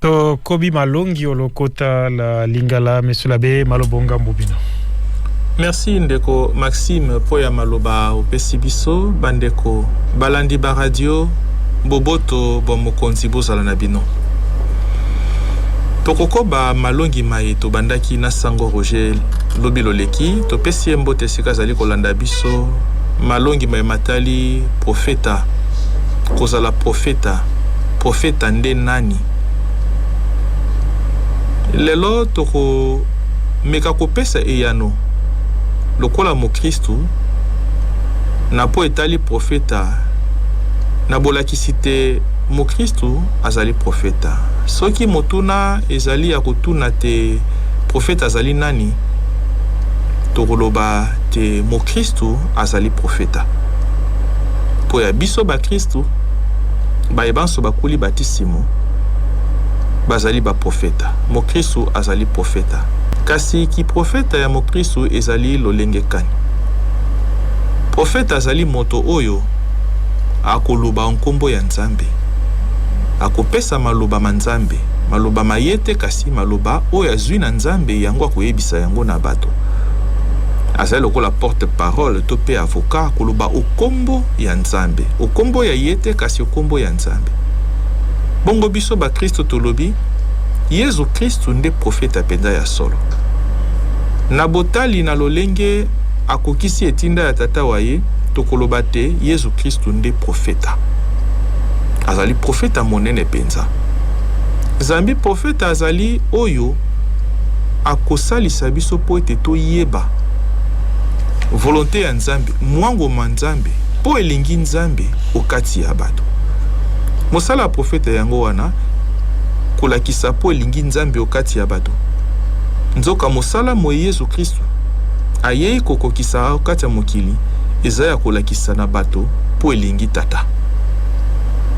tokobi malongi o lokota la lingala mesola be malobo ngambo bino Merci ndeko Maxime mpo ya maloba opesi biso bandeko balandi ba radio boboto bwa mokonzi bozala na bino tokokoba malongi maye tobandaki na sango Roger lobi loleki topesi ye mbote esika azali kolanda biso malongi maye matali profeta kozala profeta Profeta nde nani? Lelo tokomeka kopesa eyano lokola mokristu na mpo etali profeta. Na bolakisi te mokristu azali profeta. Soki motuna ezali ya kotuna te profeta azali nani, tokoloba te mokristu azali profeta. Mpo ya biso bakristu, Baye banso bakuli batisimo bazali baprofeta. Mokristu azali profeta. Kasi kiprofeta ya mokristu ezali lolenge kani? Profeta azali moto oyo akoloba o nkombo ya Nzambe, akopesa maloba ma Nzambe, maloba ma ye te, kasi maloba oyo azwi na Nzambe, yango akoyebisa yango na bato. Azali lokola porte-parole to mpe avocat, akoloba o nkombo. ya Nzambe. Okombo ya ye te kasi okombo ya Nzambe. Bongo biso ba Kristo tolobi Yezu Kristu nde profeta penza ya solo. Na botali na lolenge akokisi etinda ya Tata wa ye, tokoloba te Yezu Kristu nde profeta. Azali profeta monene penza. Zambi profeta azali oyo akosalisa biso po ete toyeba volonte ya Nzambe. Mwango mwa Nzambe, mpo elingi Nzambe o kati ya bato. Mosala ya profeta yango wana, kolakisa mpo elingi Nzambe o kati ya bato. Nzoka mosala moye Yezu Kristu ayei kokokisa o kati ya mokili eza ya kolakisa na bato mpo elingi Tata.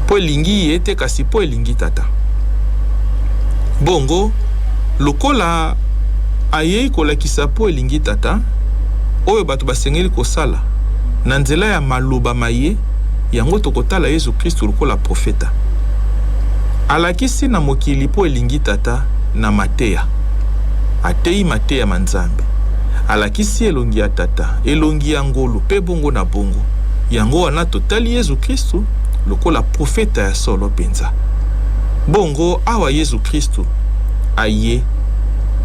Mpo elingi ye te kasi mpo elingi Tata. Bongo, lokola ayei kolakisa mpo elingi Tata, oyo bato basengeli kosala na nzela ya maloba maye, yango tokotala Yezu Kristu lokola profeta alakisi na mokili mpo elingi Tata na mateya. Ateyi mateya ma Nzambe, alakisi elongi ya Tata, elongi ya ngolu, mpe bongo na bongo. Yango wana totali Yezu Kristu lokola profeta ya solo mpenza. Bongo awa Yezu Kristu aye,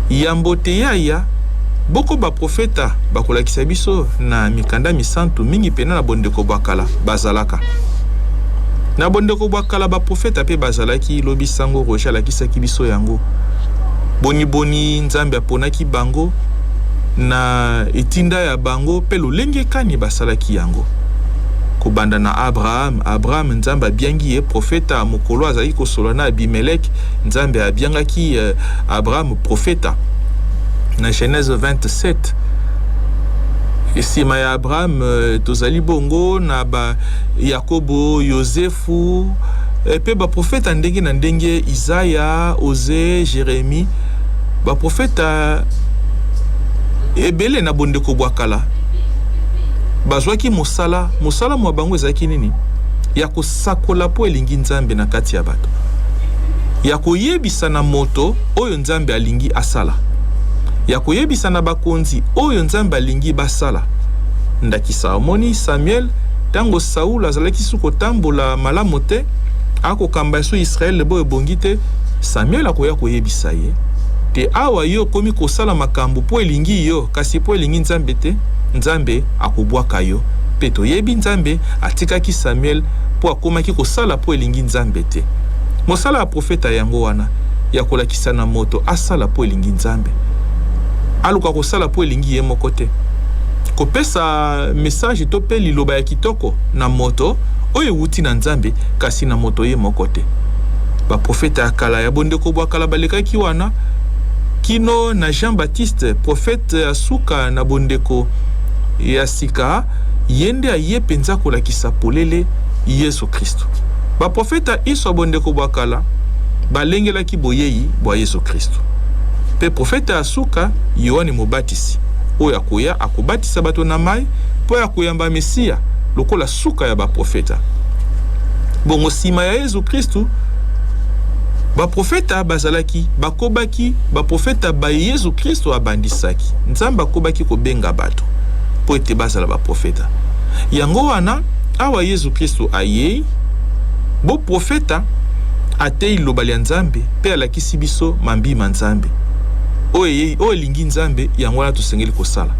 yambo te ye aya, Boko baprofeta bakolakisa biso na mikanda misantu, mingi pena na bondeko bwa kala, bazalaka na bondeko bwa kala baprofeta pe bazalaki, lobi sango Roger alakisaki biso yango boniboni Nzambe aponaki bango, na etinda ya bango pe lolenge kani basalaki yango. Kobanda na Abraham, Abraham Nzambe abiangi ye profeta, mokolo azalaki kosolola na Abimelec, Nzambe abiangaki Abraham profeta. profeta na genèse 27 nsima ya abraham euh, tozali bongo na ba yakobo yosefu eh, mpe baprofeta ndenge na ndenge isaya ose jeremi baprofeta ebele na bondeko bwa kala bazwaki mosala mosala mwa bango ezalaki nini ya Sakola mpo elingi Nzambe na kati ya bato, ya koyebisa na moto oyo Nzambe alingi asala, ya koyebisa na bakonzi oyo Nzambe alingi basala. Ndakisa, omoni Samuel, tango Saul azalaki su kotambola malamu te, akokamba esu Israel bo ebongi te, Samuel akoya koyebisa ye te awa yo okomi kosala makambo mpo elingi yo kasi mpo elingi Nzambe te, Nzambe akobwaka yo. Mpe toyebi Nzambe atikaki Samuel mpo akomaki kosala mpo elingi Nzambe te. Mosala ya profeta yango wana ya kolakisa na moto asala mpo elingi Nzambe, aluka kosala mpo elingi ye moko te. Kopesa mesaje to mpe liloba ya kitoko na moto oyo ewuti na Nzambe, kasi na moto ye moko te. Baprofeta ya kala ya bondeko bwa kala balekaki wana kino na Jean-Baptiste, profeta ya suka na bondeko ya sika. Ye nde aye mpenza kolakisa polele Yesu Kristu. Baprofeta inso ya bondeko bwa kala balengelaki boyei bwa Yesu Kristu. Mpe profeta ya suka, Yoane Mobatisi, oyo akoya, akobatisa bato na mai mpo ya koyamba Mesia lokola suka ya baprofeta. Bongo sima ya Yesu Kristu, baprofeta bazalaki, bakobaki, baprofeta baye Yesu Kristu abandisaki. Nzambe akobaki kobenga bato. baklisto mpo ete bazala baprofeta. Yango wana, awa Yesu Klisto ayei, boprofeta, ateyi Liloba lya Nzambe mpe alakisi biso mambi ma Nzambe, oyo eyei, oyo elingi Nzambe, yango wana tosengeli kosala.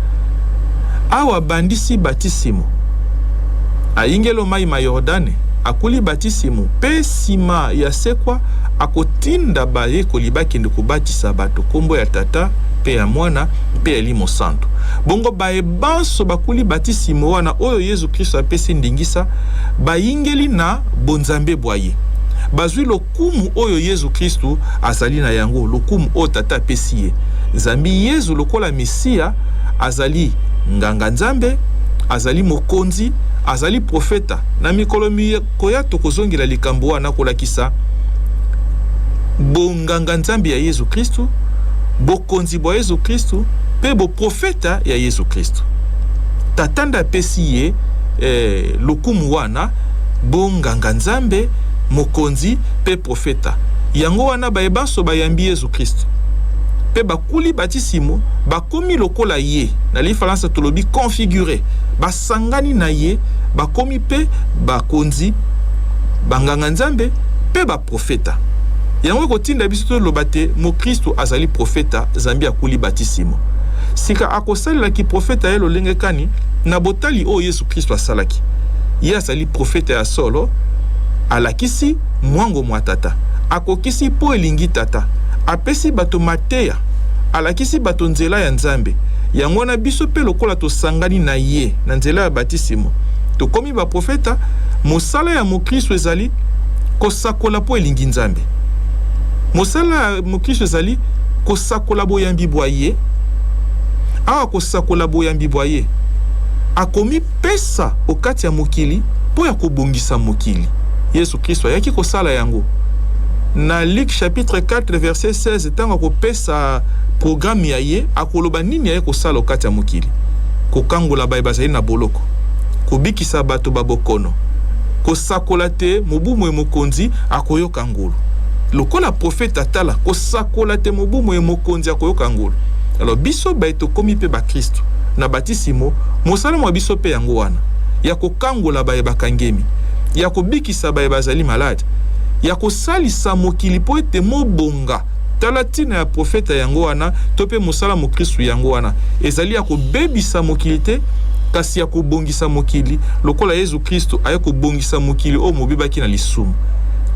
Awa abandisi batisimo, ayingeli o mai ma Yordane, akuli batisimo, mpe nsima ya sekwa akotinda bayekoli bakende kobatisa bato nkombo ya Tata mpe ya Mwana, mpe ya elimo santu. Bongo baye banso bakuli batisimo wana oyo Yezu Kristo apesi ndingisa, bayingeli na bonzambe bwa ye. Bazwi lokumu oyo Yezu Kristo azali na yango, lokumu oyo Tata apesi ye, zambi Yezu lokola Mesia azali Nganga-Nzambe, azali Mokonzi, azali Profeta. Na mikolo mikoya tokozongela likambo wana kolakisa bongi. bonganganzambe ya Yezu Kristu, bokonzi bwa Yezu Kristu mpe boprofeta ya Yezu Kristu. Tata nde apesi ye eh, lokumu wana, bonganganzambe, mokonzi mpe profeta. Yango wana baye banso bayambi Yezu Kristu mpe bakuli batisimo bakomi lokola ye, na lifalansa tolobi configure, basangani na ye, bakomi mpe bakonzi, banganganzambe mpe ba Profeta. Yango ekotinda biso toloba te mokristu azali profeta zambi akuli batisimo. Sika akosalela kiprofeta ya lolenge kani na botali oyo Yesu Kristu asalaki? Ye azali profeta ya solo, alakisi mwango mwa Tata, akokisi mpo elingi Tata, apesi bato mateya, alakisi bato nzela ya Nzambe. Yango wana biso mpe lokola tosangani na ye na nzela ya batisimo, tokomi baprofeta. Mosala ya mokristu ezali Kosakola mpo elingi Nzambe. Mosala ya moklisto ezali kosakola boyambi bwa ye. Awa kosakola boyambi bwa ye, akomipesa o kati ya mokili mpo ya kobongisa mokili. Yesu Klisto ayaki kosala yango. Na Luc chapitre 4 verset 16, ntango akopesa programme ya ye, akoloba nini aye kosala o kati ya mokili, kokangola baye bazali na boloko, kobikisa koyebisa bato ba bokono, kosakola te mobu moye mokonzi akoyoka ngolu. Lokola profeta, tala, kosakola te mobu moye mokonzi akoyoka ngolu. Alors biso baye tokomi mpe bakristu na batisimo, mosala mwa biso mpe yango wana, ya kokangola baye bakangemi, ya kobikisa baye bazali malade, ya kosalisa mokili mpo ete mobonga. Tala ntina ya profeta yango wana, to mpe mosala mokristu yango wana, ezali ya kobebisa mokili te, kasi ya kobongisa. kobongisa mokili, lokola Yezu Kristu aye kobongisa mokili oyo mobebaki na lisumu.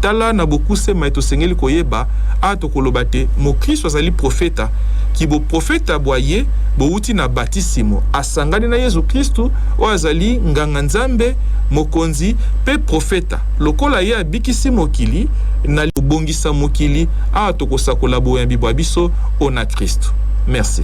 Tala na bokuse maye tosengeli koyeba, Awa tokoloba te mokristu azali profeta, ki boprofeta bwa ye bowuti na batisimo, asangani na Yezu Kristu, oyo azali Nganga-Nzambe, Mokonzi, mpe Profeta. Lokola ye abikisi mokili na kobongisa mokili, awa tokosakola boyambi bwa biso ona Kristu. Merci.